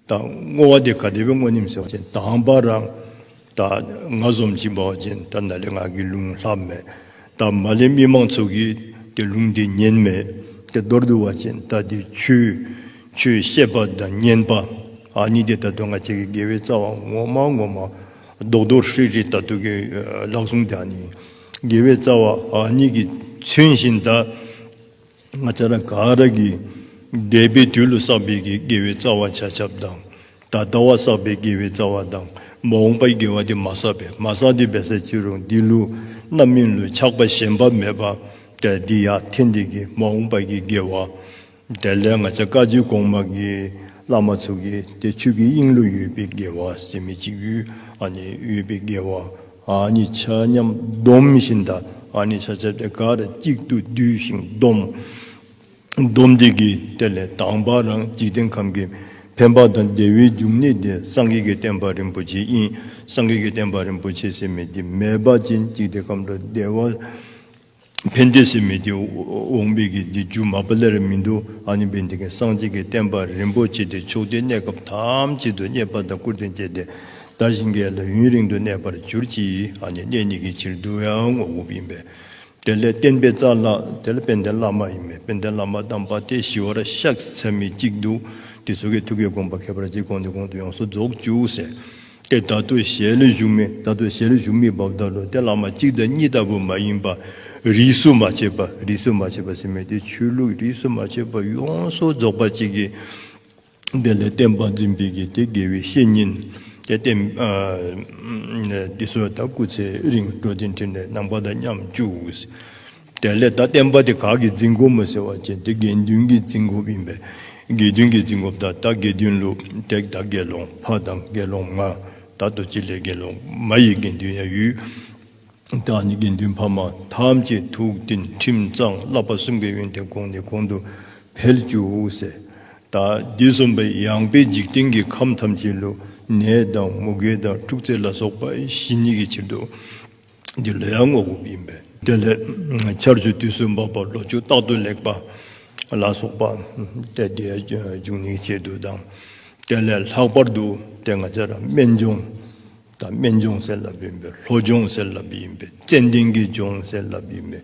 དང། བསྔོ་བ་དེ་ག་དེ་བས་བསྔོ་སྙམ་སེམས་བ་ཅན་དང་བ་རང། དང། ང་ཟོམ་གྱིས་འབར་བ་ཅན་དང་ན་ལེ་ངག་གིས་རླུང་ལྷག་མེད། དང། མ་ལེ་མི་མང་ཚོགས་ཀྱིས་དེ་རླུང་དེ་ཉེན་མེད། དེ་མདོར་བསྡུ་བ་ཅན་དང་དེ་ཆུ། ཆུའི་ཤེས་པ་དང་བསྙེན་པ། ཨ་ནི་དེ་ད་དུ་ང་བྱེད་ཀྱི་དགེ་བའི་རྩ་བ་ངོ་མ་ངོ་མ། རྡོག་རྡོག་ཧྲིལ་ཧྲིལ་ལྟ་ཐུག་གི་ལག་ཟུང་དེ་ཨ་ནི་དགེ་བའི་རྩ་བ་ཨ་ནི་གྱིས་ཚུན་བཞིན་དང། ང་ཚ་ར་ག་ར་གི་འདས་པའི་དུས་ལོ་བསགས་པའི་གི་དགེ་བའི་རྩ་བ་བྱ་ཆབ་དང། ད་ལྟ་བ་བསགས་པའི་དགེ་བའི་རྩ་བ་དང་མ་འོངས་པའི་དགེ་བ་དེ་མ་བསགས་པས་མ་བསགས་དེ་བས་སའི་ཕྱིར་རོ་འདི་ལུས་རྣམ་སྨིན་ལུས་ཆགས་པ་ཞེན་པ་མེད་པ་དེ་འདི་ཡ་དེ་འདི་གི་མ་འོངས་པ་གི་དགེ་བ་དེ་ལས་ང་ཚ་བཀའ་བརྒྱུད་གོང་མ་གི་བླ་མ་ཚུགས་གི་དེ་ཆོས་ཀྱི་དབྱིངས་ལུས་ཡོད་པའི་དགེ་བ་ཟད་མེད་ཅིག་ཡུལ་ཨ་ནི་ཡོད་པའི་དགེ་བ་གཉིས་ཆ་མཉམ་སྡོམ་བཞིན་དག་གཉིས་ཆ་ཆད་པའི་གར་གཅིག་ཏུ་བསྡུས་ཤིང་སྡོམ། སྡོམ་སྡེ་དགེའི་གཏེར་ལས་དྭངས་པ་རང་འཇིག་རྟེན་ཁམས་ཀྱི་འཕེན་པ་དང་བདེ་བའི་འབྱུང་གནས་དེ་སངས་རྒྱས་ཀྱི་བསྟན་པ་རིན་པོ་ཆེ་དབྱིངས་སངས་རྒྱས་ཀྱི་བསྟན་པ་རིན་པོ་ཆེ་སྲིད་མེད་ཀྱི་མེད་པ་ཅན་འཇིག་རྟེན་ཁམས་དུ་བདེ་བ་ཕན་བདེ་སེམས་མི་བདེ་འོང་བས་ཀྱི་འདི་སྒྱུ་མ་པ་ལེ་རེ་མི་འདུག་ཨ་ནི་བས་འདི་གའི་གསང་ཆེན་གྱི་བསྟན་པ་རིན་པོ་ཆེ་འདི་ཕྱོགས་འདིའི་གནས་སྐབས་ཐམས་ཅད་དུ་རྙེད་པ་དང་བཀུར་སྟི་བཅས་ཏེ་དར་ཞིང་རྒྱས་ལ་ཡུན་རིང་དུ་གནས་པར་གྱུར་ཅིག་ཨ་ནི་གནས་གཉིས་ཀྱི་ཕྱིར་བསྡུ་བའང་ངོ་བོ་ཡིན་པས། དེ་ལས་བསྟན་པའི་རྩ་ལ་དེ་ལ་དཔལ་ལྡན་བླ་མ་ཡིན་པས་དཔལ་ལྡན་བླ་མ་དམ་པ་དེ་ཞི་བར་གཤེགས་ཚད་མེད་ཅིག་འདུག་དེ་སོ་གའི་ཐུགས་ཀའི་དགོངས་པ་ཁྱད་པར་གྱིས་གོང་ནས་གོང་དུ་ཡོངས་སུ་རྫོགས་བཅུག་ཟེར། དེ་བདག་ཏུ་ཞལ་བཞུགས་མི་བདག་ཏུ་ཞལ་བཞུགས་མི་བབ་ལྟར་རོ་དེ་བླ་མ་གཅིག་དང་གཉིས་ལྟ་བུ་མ་ཡིན་པ། རིས་སུ་མ་ཆད་པ་རིས་སུ་མ་ཆད་པ་ཟེར་མི་དེ་ཆོས་ལུགས་རིས་སུ་མ་ཆད་པ་ཡོངས་སུ་རྫོགས་པ་གཅིག་གིས། དེ་ལས་བསྟན་པ་འཛིན་པའི་གིས་དེ་དགེ་བའི་བཤེས་གཉེན་དེ་བསྟེན། དེ་སོ་ད་སྐུ་ཚེའི་རིང་འགྲོ་དེ་འཁྲིད་ནས་ནང་པ་དང་མཉམ་བཅུག། དེ་ལས་ད་བསྟན་པ་དེ་གགས་ཀྱི་རྫིང་སྒོ་མོ་ཟེར་བ་ཅན་དེ་དགེ་འདུན་གྱི་རྫིང་སྒོ་ཡིན་པས་དགེ་འདུན་གྱི་རྫིང་སྒོ་བདག་ད་དགེ་འདུན་ལུགས་བརྡེག་ད་དགེ་སློང་ཕ་དང་དགེ་སློང་མ་ད་རྡོ་རྗེ་ལས་དགེ་སློང་མ་ཡི་དགེ་འདུན་ཡང་ཡུལ་བདག་ནི་དགེ་འདུན་ཕ་མ་ཐམས་ཅད་ཐུགས་བདེན་ཁྲིམས་གཙང་བསླབ་པ་གསུམ་གའི་ཡོན་ཏན་དགོངས་ནས་གོང་དུ་འཕེལ་བཅུག་ཟེར། ད་འདི་གསུམ་པ་ཡངས་པའི་འཇིག་རྟེན་གྱི་ཁམས་ཐམས་ཅད་ལུག་ནད་དང་མུ་གེ་དང་འཁྲུག་རྩལ་ལ་སོགས་པ་བཞི་ཉིད་ཀྱི་ཕྱིར་དུ། འདི་ལོའི་ཡར་ངོ་དགུ་ཡིན་པས། དེ་ལས་ཆར་ཆུ་དུས་སུ་འབབ་པར་ལོ་ཆུ་རྟག་ཏུ་ལེགས་པ་ལ་སོགས་པ་སྟེ་དེའི་འབྱུང་གནས་ཆེད་དུ་དང། དེ་ལས་ལྷག་པར་དུ་དེ་ང་ཚེ་རབས་སྨན་ལྗོངས་དང་སྨན་ལྗོངས་སེར་ལབ་ཡིན་པས་ལྷོ་ལྗོངས་སེར་ལབ་ཡིན་པས་ཙན་དན་གྱི་ལྗོངས་སེར་ལབ་ཡིན་པས་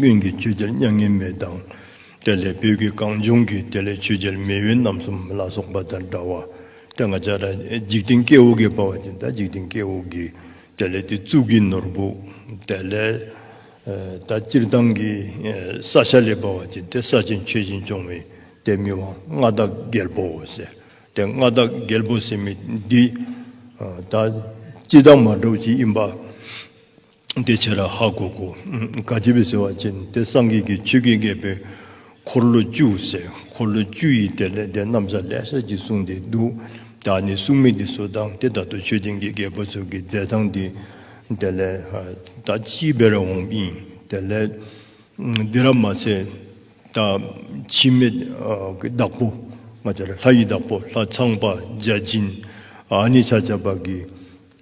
གཡོན་གྱི་ཆུ་རྒྱལ་མྱ་ངན་མེད་དང། དེ་ལས་བུ་གི་གངས་ལྗོངས་ཀྱི་དེ་ལས་ཆུ་རྒྱལ་མེས་དབོན་རྣམ་གསུམ་ལ་སོགས་པ་དང་འདྲ་བ། དེ་འགའ་ལྕགས་ཁྲ་འཇིག་རྟེན་ཀེ་འུ་ཀེ་འབར་བ་དེ་འདྲ་འཇིག་རྟེན་ཀེ་འུ་ཀེ། དེ་ལས་དེ་གཙུག་གི་ནོར་བུ། དེ་ལས་ད་སྤྱིར་བཏང་གི་ས་ཤ་ལེ་འབར་བ་དེ་དེ་ས་ཆེན་མཆོད་སྦྱིན་སྐྱོང་བའི་དེ་མི་དབང་མངའ་བདག་རྒྱལ་པོའོ་ཟེར། དེ་མངའ་བདག་རྒྱལ་པོ་ཟེར་མི་འདི། ད་ཅི་བདག་མ་གྲོགས་ཅི་ཡིན་པ། དེ་ཕྱིར་ཧ་གོ་གོ། དགའ་བྱེད་པའི་ཟེ་བ་ཅན་དེ་སངས་རྒྱས་ཀྱི་ཆོས་ཀྱི་རྒྱལ་པོའི་འཁོར་ལོ་བཅུ་ཟེར་འཁོར་ལོ་བཅུ་ཡིས་དེ་ལས་དེ་རྣམས་ས་ལས་ས་ཀྱིས་བསྲུངས་ཏེ་འདུག་བདག་ནི་སྲུང་མི་དེ་སུ་དང་དེ་ལྟར་དུ་ཆོས་ཅན་གྱི་རྒྱལ་པོ་ཚུལ་གྱི་རྫས་དང་དེ་དེ་ལས་ད་ཅིའི་དཔེར་འོང་ཨིན་དེ་ལས་འདི་ར་མ་ཚད་ད་འཆི་མེད་ཀྱི་བདག་པོ་ང་ཅར་ལྷ་ཡི་བདག་པོ་ལྷ་ཚངས་པ་བརྒྱ་བྱིན་ཨ་ནི་ཆ་བྱ་བ་གི།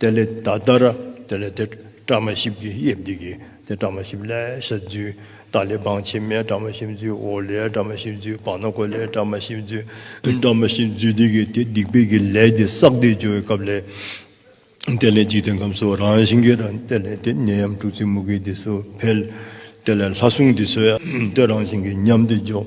དེ་ལས་ད་ལྟར་དེ་ལས་དེ་བཀྲ་མ་ཤིས་ཀྱི་དབྱིབས་འདི་ཀྱིས་དེ་བཀྲ་མ་ཤིས་ལས་ས་བརྫུས་ད་ལས་བང་ཕྱི་མའི་བཀྲ་མ་ཤིས་བརྫུས་འོག་ལས་བཀྲ་མ་ཤིས་བརྫུས་བང་ན་གོ་ལས་བཀྲ་མ་ཤིས་བརྫུས་བཀྲ་མ་ཤིས་བརྫུས་འདི་ཀྱིས་དེ་སྡིག་པའི་གི་ལས་འདི་བསགས་བདེ་སྦྱོར་བའི་སྐབས་ལས། དེ་ལས་འཇིག་རྟེན་ཁམས་སུ་རང་བཞིན་གྱི་རང་དེ་ལས་དེ་ནད་ཡམས་དྲུག་ཚེ་མུ་གེ་འདི་སུ་འཕེལ། དེ་ལས་ལྷ་སྲུང་འདི་སོས་དེ་རང་བཞིན་གྱི་ཉམས་འདི་འཇོག།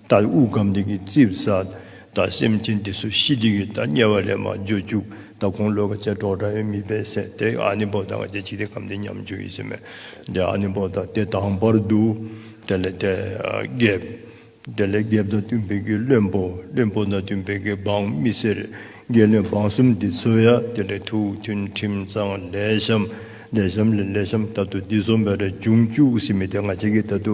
ད་དབུགས་སྒམ་འདི་གི་རྩིབ་ས། ད་སེམས་ཅན་འདི་སུ་ཤི་འདི་གི་ད་དམྱལ་བ་ལས་མ་འབྱོ་བཅུག་ད་ཁོང་ལོད་ཀ་ཅལ་འགྲོག་འདྲ་ཡོད་མི་པའི་སེ་དེ་ཨ་ནི་བོ་ད་ང་ཅལ་ཅིག་དེ་སྒམ་འདི་མཉམ་འབྱོ་ཡིན་སེ་མེ་དེ་ཨ་ནི་བོ་ད་དེ་དང་བར་དུ་དེ་ལས་དེ་བརྒེབ། དེ་ལས་བརྒེབ་ད་བསྟུན་བེ་གི་བློན་པོ་བློན་པོ་ད་བསྟུན་བེ་གི་འབངས་མི་སེར་བརྒྱད་བློན་འབངས་གསུམ་འདི་ཚོ་ཡ་དེ་ལས་ཐུགས་མཐུན་ཁྲིམས་གཙང་ལས་བཤམས་ལས་བཤམས་ལས་ལས་བཤམས་ད་དུ་འདི་ཚོ་མེ་ར་འབྱུང་བཅུག་སེ་མེ་དེ་ང་ཅལ་གི་ད་དུ་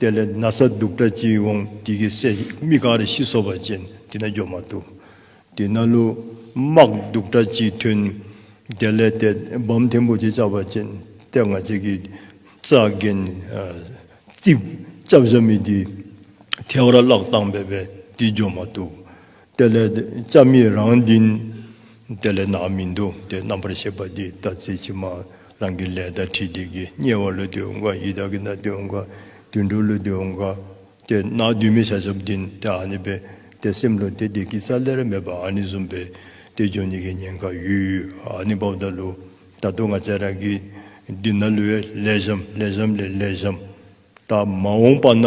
དེ་ལས་ན་བཟའ་སྡུག་སྒྲ་ཅི་འོང་དེ་གི་སྲས་མི་གང་རེ་ཤི་སོ་བ་ཅན་དེ་ན་འགྱོ་མ་ཐུབ། དེ་ན་ལུ་དམག་སྡུག་སྒྲ་ཅི་ཐོན། དེ་ལས་དེ་བམ་ཐེམ་བུ་ཅི་བཅག་པ་ཅན་དེ་ང་ཅི་གི་རྩ་རྒན། རྩིབས་བཅབས་བྱ་མི་དེ་ཐེ་བར་བརླག་བཏང་བས་པས་དེ་འགྱོ་མ་ཐུབ། དེ་ལས་ལྕགས་མེད་རང་བདེན། དེ་ལས་ནག་མི་འདུག་དེ་རྣམ་པར་ཤེས་པ་འདི་ལྟ་ཚེ་ཕྱི་མ་རང་གི་ལས་དང་ཁྲིད་དེ་གི་དམྱལ་བ་ལུས་དུ་འོང་ག་ཡི་དྭགས་ཀྱི་མདའ་དུ་འོང་ག་དུད་འགྲོ་ལུས་དུ་འོང་ག་དེ་ནག་བདུད་མི་ཤ་ཞབས་བདུན་དེ་ཨ་ནི་པའི་དེ་སེམས་བློ་དེ་དེ་གི་ས་ལེ་ར་མེད་པ་ཨ་ནི་གཟུམ་པའི་དེ་ལྗོན་ནི་གི་ཉེན་ཁ་ཡུལ་ཡུལ་ཨ་ནི་བབ་ད་ལུ་ད་དུ་ང་ཚས་རང་གི་འདི་ན་ལུས་བའི་ལས་བཞམས་ལས་བཞམས་ལས་ལས་བཞམས་ད་མ་འོང་པ་ན།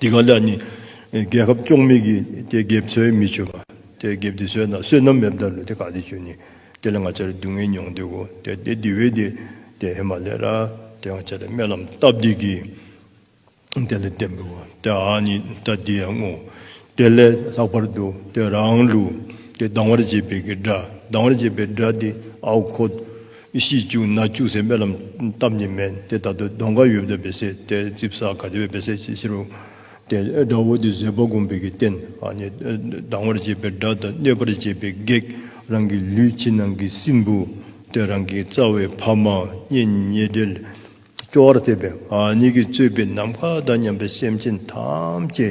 དེ་ག་ལ་ནི་རྒྱལ་ཁབ་བཅོག་མི་གིས་དེ་འགེབས་ཚོད་མི་ཆོད་པ། དེ་འགེབས་དེ་བཟོས་ན་བསོད་ནམས་མེད་བརྡར་ལུས་དེ་ག་དེ་ཆོད་ནི། དེ་ལ་ང་ཅར་སྡུག་བསྔལ་མྱོང་འདོད་གོ། དེ་དེ་དེ་བས་དེ་དེ་ཧེ་མ་ལེ་ར། དེ་ང་ཅར་རྨེ་ལམ་སྟབས་བདེ་གིས་དེ་ལ་འདེབས་འགོ་བ། དེ་ཨ་ནི་ད་དེ་ཡང་ངོ། དེ་ལས་ལྷག་པར་དུ་དེ་རང་ལུགས་ཀྱི་སྡང་བར་བྱེད་པའི་གི་སྒྲ་སྡང་བར་བྱེད་པའི་སྒྲ་དེ་ཨའུ་ཁོ། ཤིས་བཅུག་ན་བཅུག་ཟེར་སྨྲེ་ལམ་སྟབས་ནི་མེད་དེ་ད་དུ་གདོན་ག་ཡོད་པའི་བེ་སེ་སྟེ་རྩིབ་ས་ག་དེ་བའི་བེ་སེ་ཕྱིར་རོ། དེ་སྒྲ་བོ་དེ་བཟོད་པ་བསྒོམ་པའི་གི་རྟེན་ཨ་ནི་སྡང་བར་བྱེད་པའི་སྒྲ་དང་གནོད་པར་བྱེད་པའི་བགེགས་རང་གི་ལུས་ཕྱི་ནང་གི་སྲིན་བུ་སྟེ་རང་གི་རྩ་བའི་ཕ་མ་གཉེན་ཉེ་འབྲེལ། སྐྱོ་བར་བྱེད་པའི་གཉིད་ཀྱིས་གཙོས་པའི་ནམ་མཁའ་དང་མཉམ་པའི་སེམས་ཅན་ཐམས་ཅད་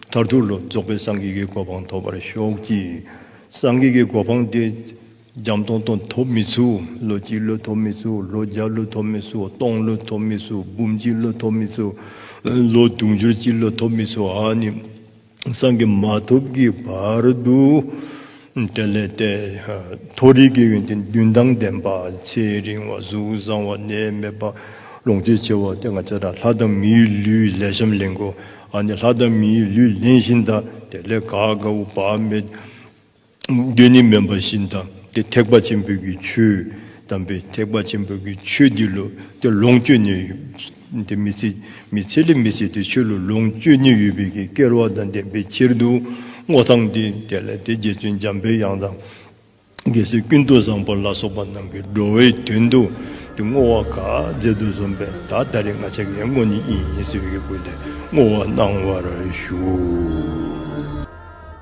མཐར་ཐུག་ལ་རྫོགས་པའི་སངས་རྒྱས་ཀྱི་གོ་འཕང་ཐོབ་པར་ཤོག་ཅིག། སངས་རྒྱས་ཀྱི་གོ་འཕང་དེ་འཇམ་སྟོང་སྟོང་ཐོབ་མི་ཚུགས་ལོ་གཅིག་ལོ་ཐོབ་མི་ཚུགས་ལོ་བརྒྱ་ལོ་ཐོབ་མི་ཚུགས་སྟོང་ལོ་ཐོབ་མི་ཚུགས་འབུམ་གཅིག་ལོ་ཐོབ་མི་ཚུགས། ལོ་དུང་ཕྱུར་གཅིག་ལོ་ཐོབ་མི་ཚུགས་ཨ་ནི། སངས་རྒྱས་མ་ཐོབ་ཀྱི་བར་དུ། དེ་ལས་འདས། མཐོ་རིས་ཀྱི་ཡོན་ཏན་བདུན་དང་ལྡན་པ། ཚེ་རིང་བ་གཟུགས་བཟང་བ་ནད་མེད་པ། ལོངས་སྤྱོད་ཆེ་བ་སྟེ་ལྔ་བརྒྱ་དང་ལྷ་དང་མིའི་ལུས་ལས་བྱམས་ལེན་གོ། ཨ་ནི་ལྷ་དང་མིའི་ལུས་ལེན་བཞིན་དང་དེ་ལས་དགའ་དགའ་བོ་བག་མེད། བདུད་ནི་དམན་པ་བཞིན་དང་དེ་ཐེག་པ་ཆེན་པོའི་གི་ཆོས་དམ་པའི་ཐེག་པ་ཆེན་པོའི་གི་ཆོས་འདི་ལོ་དེ་ལོངས་སྤྱོད་ནི་དེ་མི་ཚེ་མི་ཚེ་ལས་མི་ཚེ་དེ་ཆོས་ལོ་ལོངས་སྤྱོད་ནི་ཡོད་པའི་གི་སྐལ་བ་དང་ལྡན་པའི་ཕྱིར་དུ་སྔོ་ཐང་སྟེ་དེ་ལ་དེ་རྗེ་བཙུན་འཇམ་པའི་དབྱངས་དང། རྒྱལ་སྲས་ཀུན་ཏུ་བཟང་པོ་ལ་སོགས་པ་རྣམས་ཀྱི་འགྲོ་བའི་དོན་དུ་དེ་བསྔོ་བ་ག་མཛད་དུ་གསུངས་པས་ད་ལྟ་རེ་ང་ཆེ་གེ་མོ་ནི་ཡིན་ཟེར་བའི་གི་སྐུ་ལས་བསྔོ་བ་གནང་བར་ཞུ།